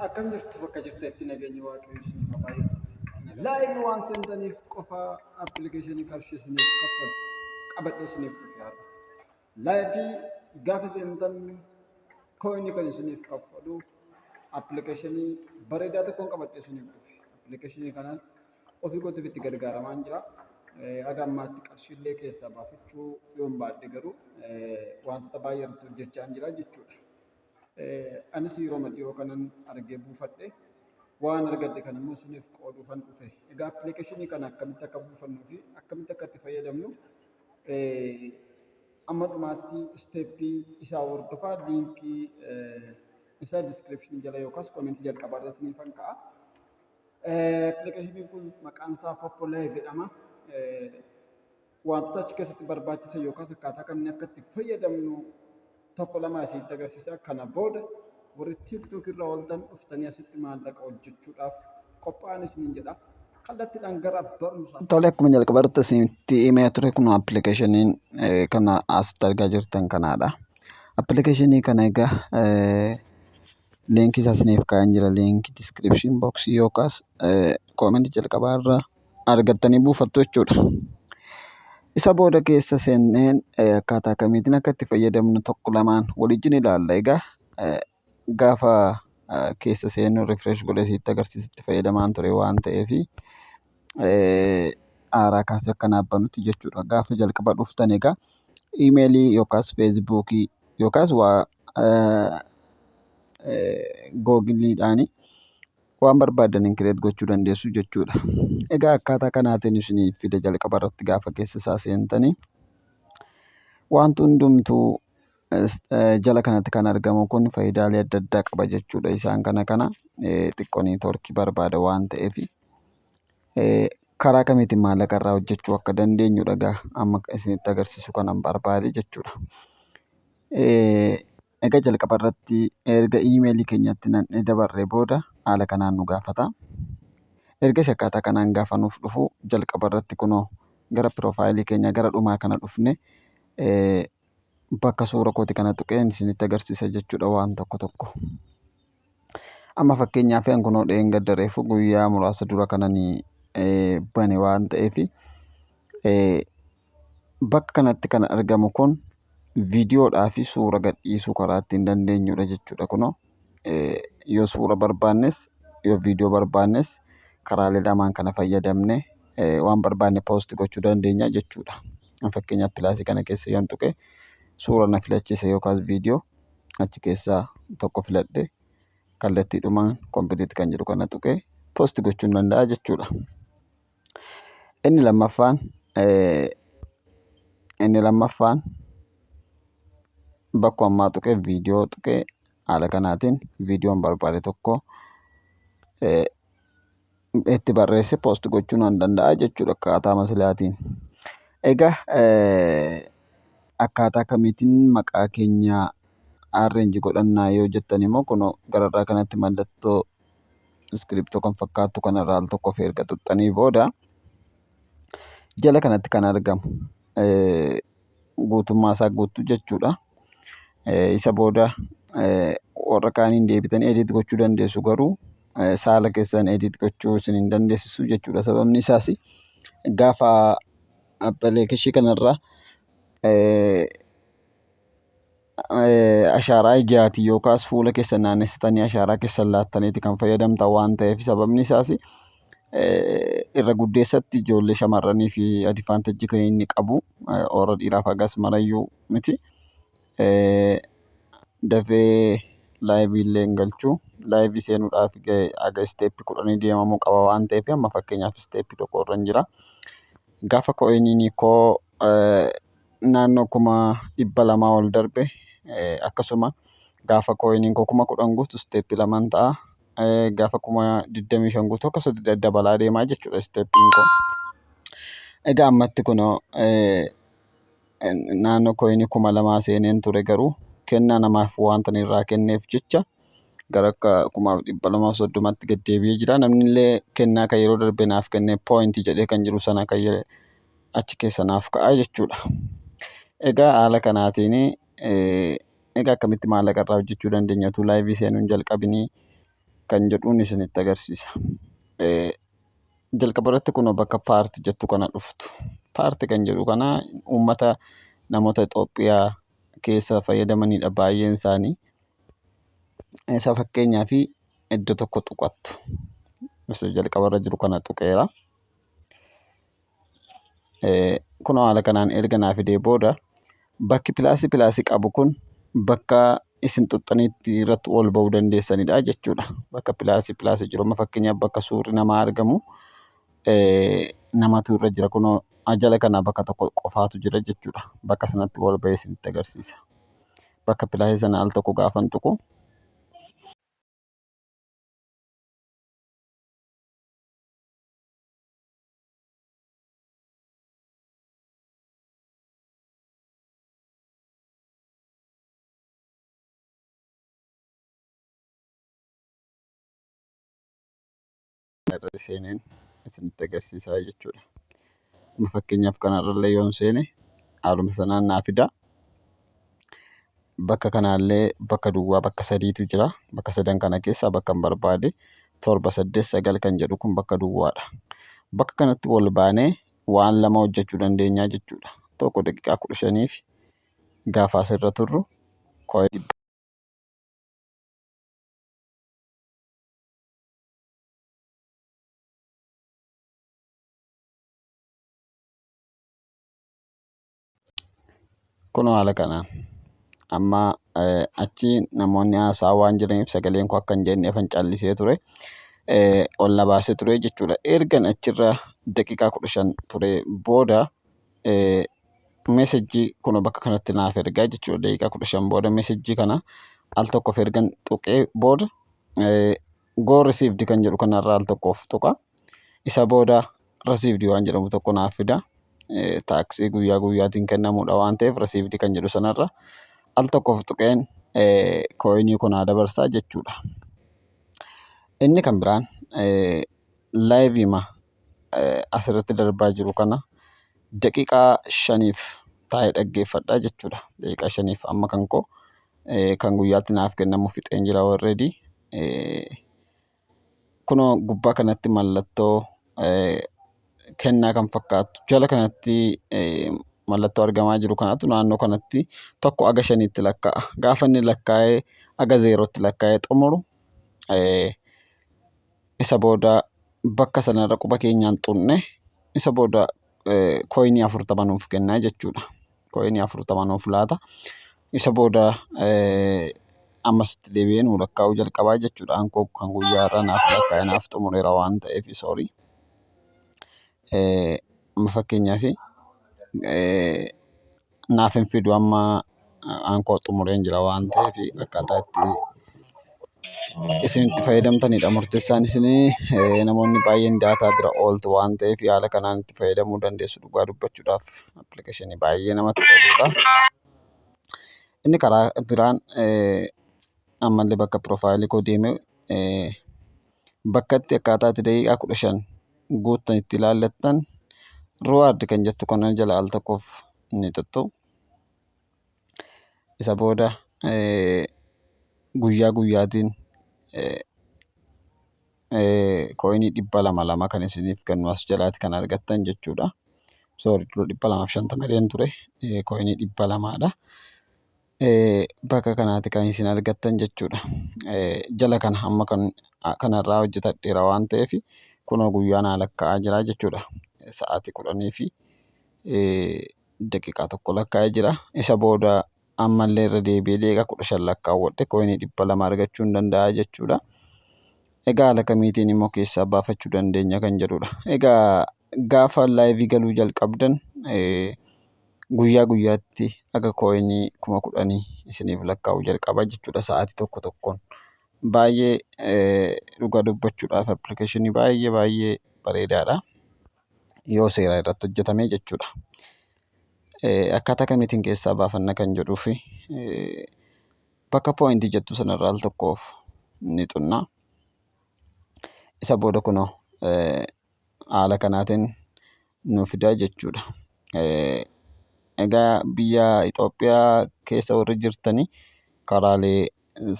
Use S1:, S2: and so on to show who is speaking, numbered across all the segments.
S1: Akkam jirtu bakka jirtetti nageenyi waaqayyo isiniif haa baay'atu. Laayivii waan seentaniif qofa appilikeeshinii qarshii isiniif kaffalu qabadhee isiniif dhufe har'a. Laayivii gaafa seentan kooyinii kan isiniif kaffalu appilikeeshinii bareedaa tokkoon qabadhee isiniif dhufe. Appilikeeshinii kana ofii kootiif itti gargaaramaa jira. Haga ammaatti qarshiillee keessaa baafachuu yoon baadhe garuu wantoota baay'ee irratti hojjechaa jira jechuudha. Anis yeroma dhiyoo kanan argee buufadhe. Waan argadhe kana immoo isiniif qooduufan dhufe. Egaa appilikeeshinii kana akkamitti akka buufannuu fi akkamitti akka itti fayyadamnu amma dhumaatti isteeppii isaa hordofaa liinkii isaa diskiripshinii jala yookaas koomentii jalqabaa irra isiniifan ka'a. Appilikeeshiniin kun maqaan isaa Poppo Live jedhama. wantoota achi keessatti barbaachisan yookaas akkaataa kamiin akka itti fayyadamnu tokko lama asitti agarsiisa. Kana booda warri TikTok irraa ooltan dhuftanii asitti maallaqa hojjechuudhaaf qophaa'an isiniin jedha. Kallattiidhaan gara barumsaa. Tole akkuma jalqaba irratti
S2: isinitti himee ture kun appilikeeshiniin kana asitti argaa jirtan kanaadha. Appilikeeshinii kana egaa leenkii isaa isiniif kaa'een jira leenkii diskiripshin booksii yookaas koomenti jalqabaa irraa argattanii buufattu jechuudha. Isa booda keessa seennee akkaataa kamiitiin akka itti fayyadamnu tokko lamaan waliin ilaalla. Egaa gaafa keessa seennu rifresh godhee isinitti agarsiisa itti fayyadamaan ture waan ta'eef haaraa kaasee akka naaf banutti jechuudha. Gaafa jalqaba dhuftan egaa imeelii yookaas feesbuukii yookaas waa googiliidhaani waan barbaadaniin kireet gochuu dandeessu jechuudha. Egaa akkaataa kanaatiin isinii fida jalqaba irratti gaafa keessa isaa seentanii wanti hundumtuu jala kanatti kan argamu kun faayidaalee adda addaa qaba jechuudha. Isaan kana kana xiqqoo neetwoorkii barbaada waan ta'eef karaa kamiitiin maallaqa irraa hojjechuu akka dandeenyudha egaa amma isinitti agarsiisu kanan barbaade jechuudha. Egaa jalqaba irratti erga iimeelii keenyatti nan'ee dabarree booda haala kanaan nu gaafata. Erga isa akkaataa kanaan gaafa nuuf dhufu jalqaba irratti kunoo gara piroofaayilii keenya gara dhumaa kana dhufne bakka suura kooti kana tuqeen isinitti agarsiisa jechuudha waan tokko tokko. Amma fakkeenyaaf an kunoo dheengadda reefu guyyaa muraasa dura kanani eh, bane waan ta'eef eh, bakka kanatti kan argamu kun viidiyoodhaa fi suura gadhiisuu karaa ittiin dandeenyudha jechuudha kunoo eh, yoo suura barbaannes yoo viidiyoo barbaannes karaalee lamaan kana fayyadamne eh, waan barbaanne poosti gochuu dandeenya jechuudha. An Fakkeenyaaf pilaasii kana keessa yoon tuqe suura na filachiisa yookaas viidiyoo achi keessaa tokko filadhe kallattiidhumaan complete kan jedhu kana tuqee post gochuun danda'a jechuudha. Inni lammaffaan inni lammaffaan bakka ammaa tuqee viidiyoo tuqee haala kanaatiin viidiyoon barbaade tokko itti barreesse post gochuu nan danda'a jechuudha akkaataa masilaatiin. Egaa akkaataa kamiitiin maqaa keenya arrange godhannaa yoo jettan immoo kunoo gararraa kanatti mallattoo iskiriptoo kan fakkaattu kanarraa al tokko ofii erga tuqxanii booda jala kanatti kan argamu guutummaa isaa guuttu jechuudha. Isa booda warra kaaniin deebitanii edit gochuu dandeessu garuu saala keessan edit gochuu isin hin dandeessisu jechuudha. Sababni isaas gaafa appilikeeshii kanarraa ashaaraa ijaatii yookaas fuula keessan naannessitanii ashaaraa keessan laattaniiti kan fayyadamtan waan ta'eef sababni isaas irra guddeessatti ijoollee shamarranii fi adivaantajji kan inni qabu warra dhiiraaf hagas marayyuu miti dafee laayivii illee hin galchu laayivii seenuudhaaf aga isteeppi kudhanii deemamuu qaba waan ta'eef amma fakkeenyaaf isteeppi tokko irra hin jira gaafa ko'iniinii koo naannoo kuma dhibba lamaa ol darbe akkasuma gaafa kooyiniin koo kuma kudhan guutu isteeppii lamaan ta'a. Gaafa kuma digdamii shan guutu akkas dabalaa deemaa jechuudha isteeppiin koo. Egaa ammatti kunoo naannoo kooyinii kuma lamaa seeneen ture garuu kennaa namaaf wanta irraa kenneef jecha gara kuma dhibba lamaaf soddomatti gad deebi'ee jira. Namni illee kennaa kan yeroo darbe naaf kenne pooyintii jedhee kan jiru sana kan achi keessa naaf ka'a jechuudha. Egaa haala kanaatiin egaa akkamitti maallaqa irraa hojjechuu dandeenya utuu laayivii seenuu hin jalqabinii kan jedhuun isinitti agarsiisa. Jalqaba irratti kun bakka paarti jettu kana dhuftu. Paarti kan jedhu kana uummata namoota Itoophiyaa keessa fayyadamanidha baay'een isaanii. Isa fakkeenyaaf iddoo tokko tuqattu. Isa jalqaba irra jiru kana tuqeera. kunoo haala kanaan erga naa fidee booda bakki pilaasii pilaasii qabu kun bakka isin xuxxaniitti irratti ol ba'uu dandeessanidha jechuudha. Bakka pilaasii pilaasii jiru amma fakkeenyaaf bakka suurri namaa argamu namatu irra jira kunoo jala kana bakka tokko qofaatu jira jechuudha. Bakka sanatti ol ba'ee isinitti agarsiisa. Bakka pilaasii sana al tokko gaafan tuqu irra seeneen isinitti agarsiisaa jechuudha. Amma fakkeenyaaf kanarrallee yoon seene haaluma sanaan naa fida. bakka kanaallee bakka duwwaa bakka sadiitu jira bakka sadan kana keessaa bakka hin barbaade torba saddeet sagal kan jedhu kun bakka duwwaadha bakka kanatti wal baanee waan lama hojjechuu dandeenyaa jechuudha tokko daqiiqaa kudha shaniif gaafa asirra turru kooyee dhibba Kunoo haala kanaan amma achi namoonni haasaa waan jiraniif sagaleen koo akka hin jeenneefan callisee ture. Ol na baasee ture jechuudha. Ergan achirra daqiiqaa kudha shan ture booda mesejjii kunoo bakka kanatti naaf ergaa jechuudha. Daqiiqaa kudha shan booda mesejjii kana al tokkoof ergan tuqee booda Go received kan jedhu kanarraa al tokkoof tuqa. Isa booda received waan jedhamu tokko naaf fida. Taaksii guyyaa guyyaatiin kennamudha waan ta'eef received kan jedhu sanarra al tokkoof tuqeen kooyinii kun haa dabarsaa jechuudha. Inni kan biraan laayiviima asirratti darbaa jiru kana daqiiqaa shaniif taa'ee dhaggeeffadha jechuudha. Daqiiqaa shaniif amma kan koo kan guyyaatti naaf kennamu fixeen jira already. Kunoo gubbaa kanatti mallattoo kennaa kan fakkaatu jala kanatti mallattoo argamaa jiru kanatu naannoo kanatti tokko aga shaniitti lakkaa'a. Gaafa inni lakkaa'ee aga zeerootti lakkaa'ee xumuru Isa booda bakka sanarra quba keenyaan tuqne isa booda kooyinii afurtama nuuf kenna jechuudha. Kooyinii afurtama nuuf laata. Isa booda ammas itti deebi'ee nuu lakkaa'uu jalqabaa jechuudha. Ankoo kan guyyaa irraa naaf lakkaa'e naaf xumureera waan ta'eef soorii. Amma fakkeenyaaf naaf hin fidu amma waan koo xumureen jira waan ta'eef akkaataa itti isin itti fayyadamtanidha murteessaan isinii namoonni baay'een daataa bira ooltu waan ta'eef haala kanaan itti fayyadamuu dandeessu dhugaa dubbachuudhaaf appilikeeshinii baay'ee namatti toludha. Inni karaa biraan ammallee bakka piroofaayilii koo deemee bakkatti akkaataa itti daqiiqaa kudha shan guuttan itti ilaallattan ruwaard kan jettu kana jala al tokkoof ni tuttu. Isa booda guyyaa guyyaatiin kooyinii dhibba lama lama kan isiniif kennu as jalaatti kan argattan jechuudha. Soori dhibba lamaaf shantama ture kooyinii dhibba lamaadha. bakka kanaati kan isin argattan jechuudha. Jala kana amma kanarraa hojjetadheera waan ta'eef kunoo guyyaa naa lakkaa'aa jira jechuudha. Sa'aatii kudhanii fi daqiiqaa tokko lakkaa'ee jira. Isa booda ammallee irra deebi'ee daqiiqaa kudha shan lakkaawwadhe kooyinii dhibba lama argachuu hin danda'a jechuudha. Egaa haala kamiitiin immoo keessaa baafachuu dandeenya kan jedhudha. Egaa gaafa laayivii galuu jalqabdan guyyaa guyyaatti aga koinii kuma kudhanii isiniif lakkaa'uu jalqaba jechuudha sa'aatii tokko tokkoon baay'ee dhugaa dubbachuudhaaf appilikeeshinii baay'ee baay'ee bareedaadha yoo seeraa irratti hojjetamee jechuudha akkaataa kamiitiin keessaa baafanna kan jedhuu fi bakka pooyintii jettu sanarraa al tokkoof ni xunna isa booda kunoo haala kanaatiin nuu fida jechuu dha. Egaa biyya Itoophiyaa keessa warri jirtan karaalee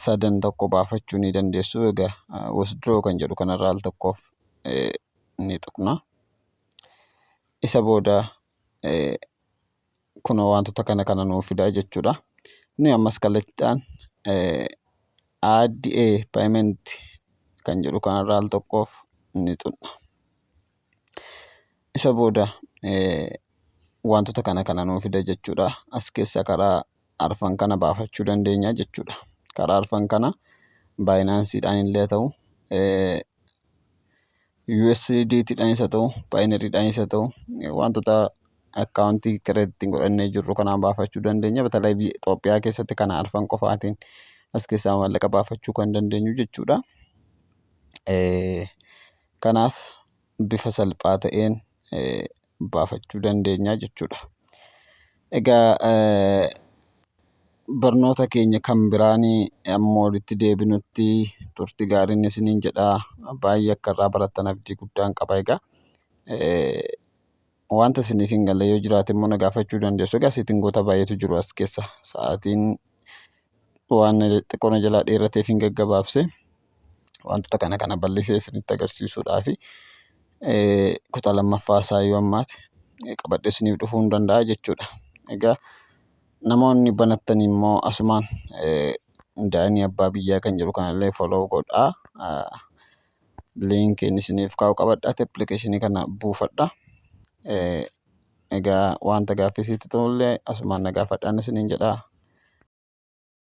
S2: sadan tokko baafachuu ni dandeessu. Egaa withdraw kan jedhu kanarraa al tokkoof ni tuqna. Isa booda kunoo wantoota kana kana nuu fidaa jechuudha nuyi ammas kallattiidhaan adda payment kan jedhu kanarra al tokkoof ni xunna isa booda wantoota kana kana nuu fida jechuudha as keessa karaa arfan kana baafachuu dandeenya jechuudha. Karaa arfan kana baayinaansiidhaan illee haa ta'u, USDT dhaanis haa ta'u, Paayinarii dhaanis haa ta'u wantoota akkaawuntii kireeditii hin godhannee jirru kanaan baafachuu dandeenya. Batalee biyya Itoophiyaa keessatti kana arfan qofaatiin as keessaa maallaqa baafachuu kan dandeenyu jechuudha. Kanaaf bifa salphaa ta'een baafachuu dandeenya jechuudha. Egaa barnoota keenya kan biraan amma walitti deebinutti turti gaariin isiniin jedha. Baay'ee akka irraa barattan abdii guddaan qaba egaa. Wanta isiniif hin galle yoo jiraate immoo na gaafachuu dandeessu. Egaa seetingoota baay'eetu jiru as keessa. Sa'aatiin waan xiqqoo na jalaa dheerateef hin gaggabaabse. Wantoota kana kana bal'isee isinitti agarsiisuudhaaf kutaa lammaffaa isaa yoo ammaate qabadhee isiniif dhufuu hin danda'a jechuudha. Egaa namoonni banattan immoo asumaan daa'imni abbaa biyyaa kan jedhu kanallee follow godhaa. liinkiin isiniif kaa'u qabadhaati appilikeeshinii kana buufadha. Egaa wanta gaaffii sitti ta'ullee asumaan na gaafadhaan isiniin jedha.